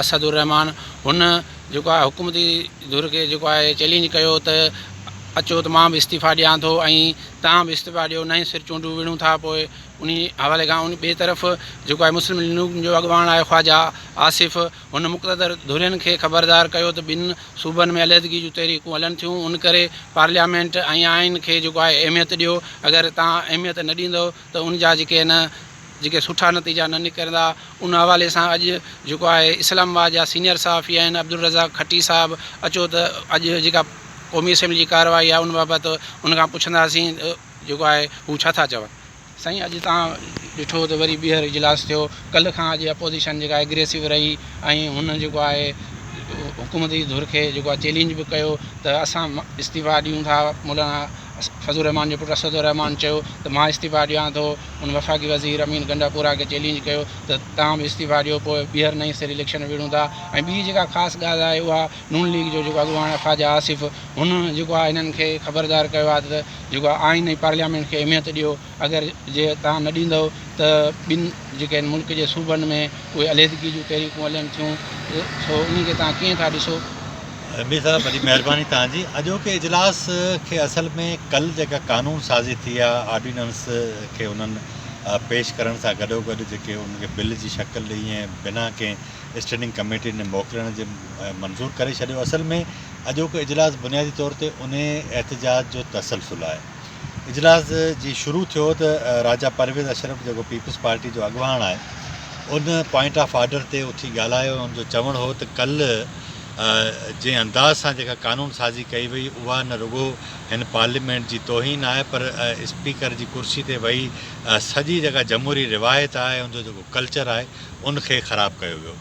اسد الرحمان هن جيڪو آهي حڪومتي ڌر کي جيڪو آهي چئلينج ڪيو ته اچو ته مان به استعيفا ڏيان ٿو ۽ توهان به استعيفا ڏيو نئين سر چونڊون وڙهون ٿا پوء انهي حوالي کان ان ٻئي طرف جيڪو آهي مسلم ليگ نون جو اڳواڻ آهي خواجا آصف هن مقتدر ڌرين کي خبردار ڪيو ته ٻن صوبن ۾ عليحدگي جون تحريڪون هلن ٿيون ان ڪري پارليامينٽ ۽ آئين کي جيڪو آهي اهميت ڏيو اگر توهان اهميت نه ڏيندو ته ان جا جيڪي آهن جيڪي سٺا نتيجا نه نڪرندا ان حوالي سان اڄ جيڪو آهي اسلام آباد جا سينئر صحافي آهن عبدالرزاق کٽي صاحب اچو ته اڄ جيڪا قومي اسيمبلي جي ڪارروائي آهي ان بابت ان کان پڇنداسين جيڪو آهي هو ڇا ٿا چون. سائين اڄ تان ڏٺو ته وري ٻيهر اجلاس ٿيو ڪلهه کان اڄ اپوزيشن جيڪا اگريسو رهي ۽ هن جيڪو آهي حڪومتي ڌر کي جيڪو آهي چيلينج به ڪيو ته اسان استعيفا ڏيون ٿا مولانا فضل الرحمان جي پٽ اسد الرحمان چيو ته مان استعيفيٰ ڏيان ٿو، هن وفاقي وزير امين گنڊاپورا کي چئلينج ڪيو ته توهان به استعيفيٰ ڏيو پوء ٻيهر نئين سر اليڪشن وڙهون ٿا ۽ ٻي جيڪا خاص ڳالهه آهي اها نون ليگ جو جيڪو اڳواڻ خواجه آصف هن جيڪو آهي هنن کي خبردار ڪيو آهي ته جيڪو آهي آئين ۽ پارليامينٽ کي اهميت ڏيو. اگر جي توهان نه ڏيندؤ ته ٻن جيڪي هن ملڪ جي صوبن ۾ اهي عليحدگي جون تحريڪون هلن ٿيون سو انهن کي توهان ڪيئن ٿا ڏسو؟ ايمڊي صاحب وڏي مهرباني توهان جي اڄوڪي اجلاس کي اصل ۾ ڪل جيڪا قانون سازي ٿي آ آرڊيننس کي انهن پيش ڪرڻ سان گڏو گڏ جيڪي ان کي بل جي شڪل ڏئي ۽ بنا ڪنهن اسٽينڊنگ ڪميٽي ڏي موڪلڻ جي منظور ڪري ڇڏيو اصل ۾ اڄوڪو اجلاس بنيادي طور تي انهي احتجاج جو تسلسل آهي. اجلاس جي شروع ٿيو ته راجا پرويز اشرف جيڪو پيپلز پارٽي جو اڳواڻ آهي ان پوائنٽ آف آرڊر تي اٿي ڳالهايو ۽ ان جو چوڻ هو ته ڪلهه جنهن انداز سان جيڪا قانون سازي ڪئي وئي اها نه رڳو هن پارليامينٽ جي توهين آهي پر اسپيڪر جي ڪرسي تي ويهي سڄي جيڪا جمهوري روايت آهي ان جو جيڪو ڪلچر آهي ان کي خراب ڪيو ويو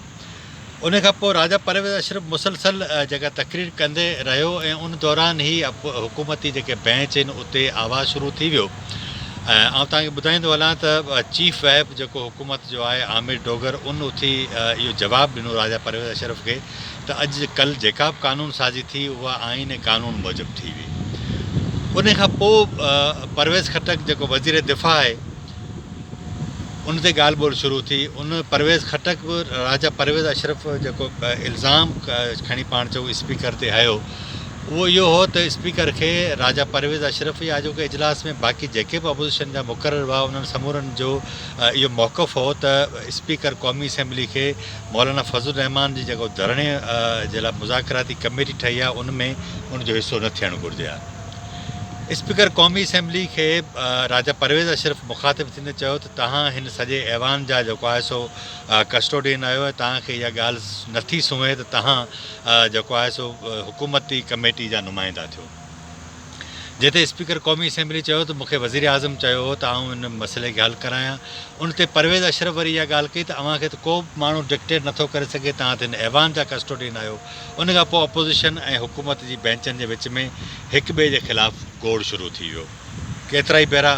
ان کان پوء راجا پرويز اشرف مسلسل جيڪا تقرير ڪندي رهيو ۽ ان دوران هي حڪومتي جيڪي بينچ هين اتي آواز شروع ٿي ويو ۽ آئون توهان کي ٻڌائيندو هلان ته چيف وهيب جيڪو حڪومت جو آهي عامر ڊوگر ان اٿي اهو جواب ڏنو راجا پرويز اشرف کي ته اڄ ڪل جيڪا به قانون سازي ٿي اها آئين ۽ قانون موجب ٿي هئي ان کان پوء پرويز خٽڪ جيڪو وزير دفاع آهي ان تي ڳالهه ٻولهه شروع ٿي. ان پرويز خٽڪ به راجا پرويز اشرف جيڪو الزام کڻي پاڻ چئو اسپيڪر تي هنيو اهو اهو هو ته اسپيڪر کي راجا پرويز اشرف يا اڄوڪي اجلاس ۾ باقي جيڪي به اپوزيشن جا مقرر هئا انهن سمورن جو اهو موقف هو ته اسپيڪر قومي اسيمبلي کي مولانا فضل الرحمان جي جيڪو ڌرڻي جي لاء مذاڪراتي ڪميٽي ٺهي آهي ان ۾ ان جو حصو نه ٿيڻ گهرجي ها. اسپيڪر قومي اسيمبلي کي راجا پرويز اشرف مخاطب ٿيندي چيو ته توهان هن سڄي ايوان جا جيڪو آهي سو ڪسٽوڊين آهيو ۽ توهان کي اها ڳالهه نه ٿي سونهي ته توهان جيڪو آهي سو حڪومتي ڪميٽي جا نمائندا ٿيو. جنهن تي اسپيڪر قومي اسيمبلي چيو ته مون کي وزيراعظم چيو هو ته آئون ان مسئلي کي حل ڪرايان. ان تي پرويز اشرف وري اها ڳالهه ڪئي ته اوهان کي ته ڪو به ماڻهو ڊڪٽيٽ نه ٿو ڪري سگهي توهان ته هن ايوان جا ڪسٽوڊين آهيو ان کان پوء اپوزيشن ۽ حڪومت جي بئنچن جي وچ ۾ هڪ ٻئي جي خلاف گوڙ شروع ٿي ويو. ڪيترائي ڀيرا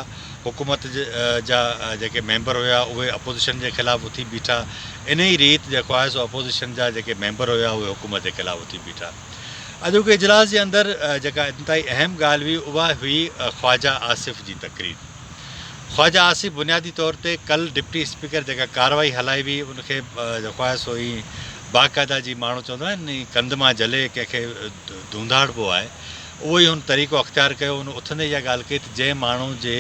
حڪومت جا جيڪي ميمبر هيا اهي اپوزيشن جي خلاف اٿي بيٺا، انهي ريت جيڪو آهي سو اپوزيشن جا جيڪي ميمبر هيا اهي حڪومت جي خلاف اٿي بيٺا. اڄوڪي اجلاس جي اندر جيڪا انتهائي اهم ڳالهه هئي اها هئي خواجه آصف جي تقرير. خواجه آصف بنيادي طور تي ڪل ڊپٽي اسپيڪر جيڪا ڪارروائي هلائي هئي ان کي جيڪو آهي سو ائين باقاعده جي ماڻهو چوندو آهي ني ڪنڌ مان جهلي ڪنهن کي ڌونڌاڙبو آهي، اهو ئي هن طريقو اختيار ڪيو. هن اٿندي اها ڳالهه ڪئي ته جنهن ماڻهو جي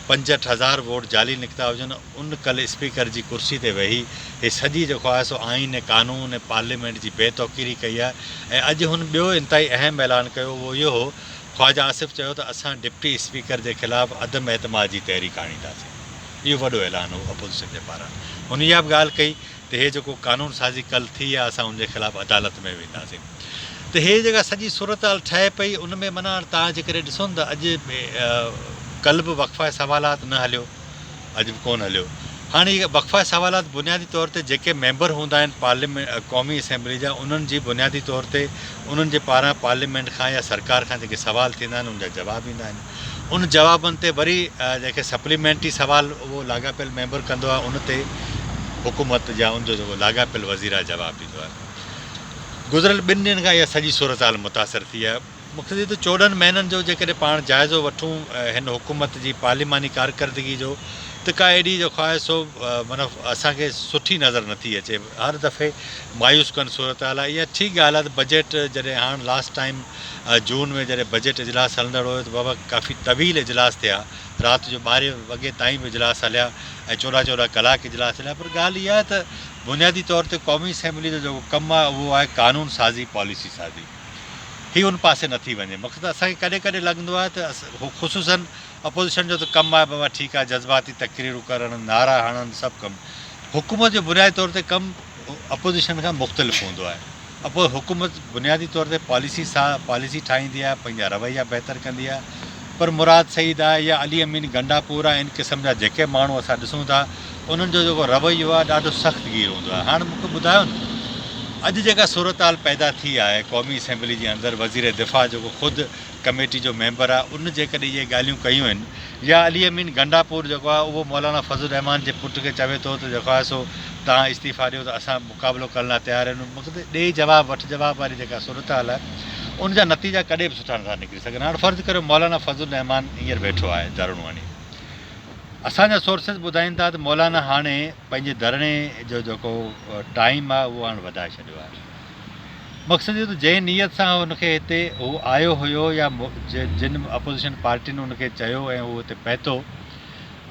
پنجهٺ هزار ووٽ جعلي نڪتا هجن، ان ڪل اسپيڪر جي ڪرسي تي ويهي هي سڄي جيڪو آهي سو آئين ۽ قانون ۽ پارليامينٽ جي بي توقيري ڪئي آهي ۽ اڄ هن ٻيو انتهائي اهم اعلان ڪيو اهو اهو هو خواجه آصف چيو ته اسان ڊپٽي اسپيڪر جي خلاف عدم اعتماد جي تحريڪ آڻينداسين اهو وڏو اعلان هو اپوزيشن جي پاران هن اها به ڳالهه ڪئي ته هي جيڪو قانون سازي ڪل ٿي آ اسان ان جي خلاف عدالت ۾ وينداسين ته هي جيڪا سڄي صورتحال ٺهي پئي ان ۾ معنيٰ توهان جيڪڏهن ڏسو نه ته اڄ ڪل به وقفه سوالات نه هليو اڄ به ڪون هليو هاڻي هي وقفه سوالات بنيادي طور تي جيڪي ميمبر هوندا آهن پارليامينٽ قومي اسيمبلي جا انهن جي بنيادي طور تي انهن جي پاران پارليامينٽ کان يا سرڪار کان جيڪي سوال ٿيندا آهن ان جا جواب ايندا آهن. ان جوابن تي وري جيڪي سپليمينٽري سوال اهو لاڳاپيل ميمبر ڪندو آهي ان تي حڪومت يا ان جو جيڪو لاڳاپيل وزير آهي جواب ڏيندو آهي. گذريل ٻن ڏينهن کان اها سڄي صورتحال متاثر ٿي آهي. مختصر طور چوڏهن مهينن جو جيڪڏهن پاڻ جائزو وٺون هن حڪومت جي پارليماني ڪارڪردگي جو ته ڪا ايڏي جو خواهه سو معنيٰ اسان کي سٺي نظر نه ٿي اچي. هر دفعي مايوس ڪن صورتحال آهي. اها ٺيڪ ڳالهه آهي ته بجيٽ جڏهن هاڻ لاسٽ ٽائيم جون ۾ جڏهن بجيٽ اجلاس هلندڙ هيو ته بابا ڪافي طويل اجلاس ٿيا، رات جو ٻارهين وڳي تائين به اجلاس هليا ۽ چوڏهن چوڏهن ڪلاڪ اجلاس هليا پر ڳالهه اها آهي ته بنيادي طور تي قومي اسيمبلي جو جيڪو ڪم آهي اهو آهي قانون سازي پاليسي سازي هي ان پاسي نٿي وڃي مقصد اسان کي ڪڏهن ڪڏهن لڳندو آهي ته خصوصا اپوزيشن جو ته ڪم آهي بابا ٺيڪ آهي جذباتي تقريرون ڪرڻ نعرا هڻن سڀ ڪم حڪومت جو بنيادي طور تي ڪم اپوزيشن کان مختلف هوندو آهي اپو حڪومت بنيادي طور تي پاليسي سا پاليسي ٺاهيندي آهي پنهنجا رويا بهتر ڪندي آهي پر مراد سعيد آهي يا علي امين گنڊاپور آهي ان قسم جا جيڪي ماڻهو اسان ڏسون ٿا انهن جو جيڪو رويو آهي ڏاڍو سخت گير هوندو آهي هاڻ مون کي ٻڌايو نه اڄ جيڪا صورتحال پيدا ٿي آهي قومي اسيمبلي جي اندر وزير دفاع جيڪو خود ڪميٽي جو ميمبر آ ان جيڪڏهن اهي ڳالهيون ڪيون آهن يا علي امين گنڊاپور جيڪو آ اهو مولانا فضل الرحمان جي پٽ کي چوي ٿو ته جيڪوآسو تهان استعيفا ڏيو ته اسان مقابلو ڪرڻ لاء تيار آهيون ان مقد ڏي جواب وٺ جواب واري جيڪا صورتحال آهي ان جا نتيجا ڪڏهن به سٺا نٿا نڪري سگهن هاڻ فرض ڪريو مولانا فضل الرحمان هينئر ويٺو آهي ڌرڻو هڻي اسان جا سورسز ٻڌائين ٿا ته مولانا هاڻي پنهنجي ڌرڻي جو جيڪو ٽائيم آ اهو هاڻ وڌائي ڇڏيو آهي مقصد اهو ته جنهن نيت سان هن کي هتي هو آيو هيو يا جن اپوزيشن پارٽين هن کي چيو ۽ هو هتي پهتو،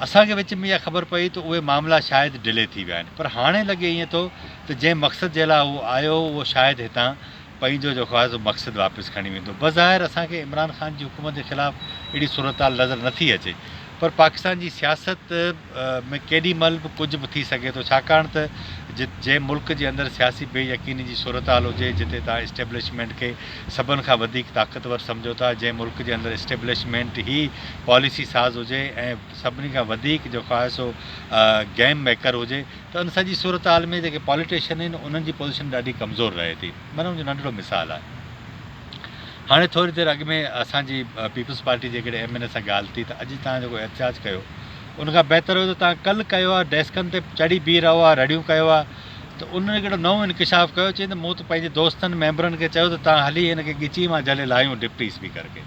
اسان کي وچ ۾ اها خبر پئي ته اهي معاملا شايد ڊلي ٿي ويا آهن. پر هاڻي لڳي ائين ٿو ته جنهن مقصد جي لاء هو آيو هو اهو شايد هتان پنهنجو جيڪو آهي سو مقصد واپس کڻي ويندو. بظاهر اسان کي عمران خان جي حڪومت جي خلاف اهڙي صورتحال نظر نٿي اچي. پر پاڪستان جي سياست ۾ ڪيڏي مهل به ڪجهه به ٿي سگهي ٿو ڇاڪاڻ ته جنهن ملڪ جي اندر سياسي بي يقيني جي صورتحال هجي جتي توهان اسٽيبلشمينٽ کي سڀن کان وڌيڪ طاقتور سمجهو ٿا جنهن ملڪ جي اندر اسٽيبلشمينٽ هي پاليسي ساز هجي ۽ سڀني کان وڌيڪ جو خواهسو گيم ميڪر هجي ته ان سڄي صورتحال ۾ جيڪي پاليٽيشن آهن انهن جي پوزيشن ڏاڍي ڪمزور رهي ٿي من ان جو ننڍڙو مثال آهي. هاڻي ٿوري دير اڳ ۾ اسان جي پيپلز پارٽي جي هڪڙي ايم اين اي سان ڳالهه ٿي ته اڄ توهان جيڪو احتجاج ڪيو ان کان بهتر هيو ته توهان ڪل ڪيو ها ڊيسڪن تي چڙهي بيهي رهو ها رڙيون ڪيو ها ته ان هڪڙو نئون انڪشاف ڪيو چئي ته مون ته پنهنجي دوستن ميمبرن کي چيو ته توهان هلي هن کي ڳچي مان جهلي لاهيون ڊپٽي اسپيڪر کي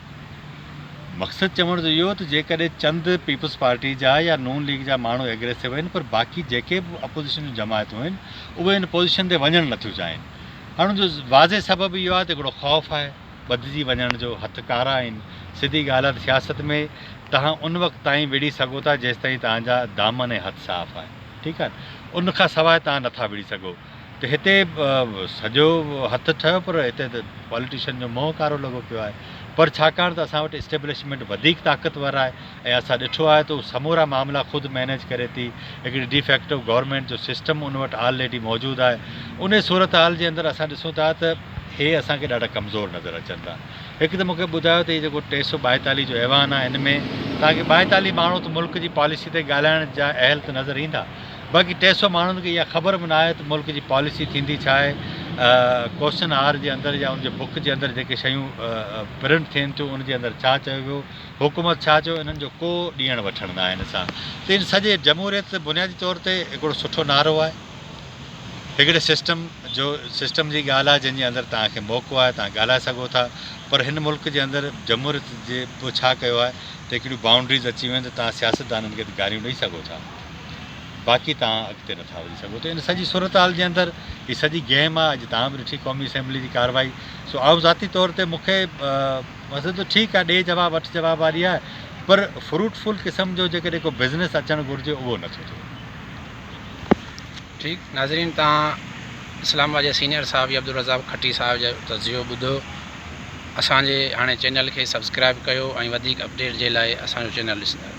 مقصد چوڻ جو اهو ته جيڪڏهن چند پيپلز پارٽي جا يا نون ليگ جا ماڻهو ايگريسو آهن پر باقي جيڪي به اپوزيشن جون جماعتون آهن اهي ان پوزيشن تي وڃڻ نٿيون چاهين ان جو واضح سبب اهو آهي ته هڪڙو خوف آهي ٻڌجي وڃڻ جو، هٿ ڪارا آهن، سڌي ڳالهه آهي ته سياست ۾ توهان ان وقت تائين وڙهي سگهو ٿا جيستائين توهان جا دامن ۽ هٿ صاف آهن ٺيڪ آهي ان کان سواء توهان نٿا وڙهي سگهو ته هتي سڄو هٿ ٺهيو پر هتي ته پاليٽيشن جو منهن ڪارو لڳو پيو آهي پر ڇاڪاڻ ته اسان وٽ اسٽيبلشمينٽ وڌيڪ طاقتور آهي ۽ اسان ڏٺو آهي ته هو سمورا معاملا خود مينيج ڪري ٿي، هڪڙي ڊي فيڪٽو گورنمينٽ جو سسٽم ان وٽ آلريڊي موجود آهي، انهي صورتحال جي اندر اسان ڏسون ٿا ته هي اسان کي ڏاڍا ڪمزور نظر اچن ٿا. هڪ ته مون کي ٻڌايو ته هي جيڪو ٽي سؤ ٻائيتاليهه جو ايوان آهي ان ۾ توهان کي ٻائيتاليهه ماڻهو ته ملڪ جي پاليسي تي ڳالهائڻ جا اهل ته نظر ايندا باقي ٽي سؤ ماڻهن کي اها خبر به نه آهي ته ملڪ جي پاليسي ٿيندي ڇا آهي ڪوشچن آر جي اندر يا ان جي بڪ جي اندر جيڪي شيون پرنٽ ٿين ٿيون ان جي اندر ڇا چيو ويو حڪومت ڇا چيو انهن جو ڪو ڏيڻ وٺڻ ناهي ان سان ته ان سڄي جمهوريت بنيادي طور تي هڪڙو سٺو نعرو آهي هڪڙي سسٽم جو سسٽم جي ڳالهه آهي جنهن جي اندر توهان کي موقعو آهي توهان ڳالهائي سگهو ٿا پر هن ملڪ جي اندر جمهوريت جي پوء ڇا ڪيو آهي ته هڪڙيون بائونڊريز اچي ويون آهن ته توهان سياستدانن کي ته گاريون ڏئي سگهو ٿا باقي توهان اڳتي نٿا وڌي سگهو ته ان سڄي صورتحال جي اندر هي سڄي گيم آهي اڄ توهان به ڏٺي قومي اسيمبلي جي ڪارروائي سو آئون ذاتي طور تي مون کي ويسي ته ٺيڪ آهي ڏي جواب وٺ جواب واري آهي پر فروٽ فل قسم جو جيڪڏهن ڪو بزنس اچڻ گهرجي اهو نه ٿو ٿئي. ٺيڪ ناظرين توهان اسلام آباد جي سينئر صحافي عبدالرزاق کٽي صاحب جو تجزيو ٻڌو اسان جي هاڻي چينل کي سبسڪرائب ڪيو ۽ وڌيڪ اپڊيٽ جي لاء اسان جو چينل ڏسندا رهو.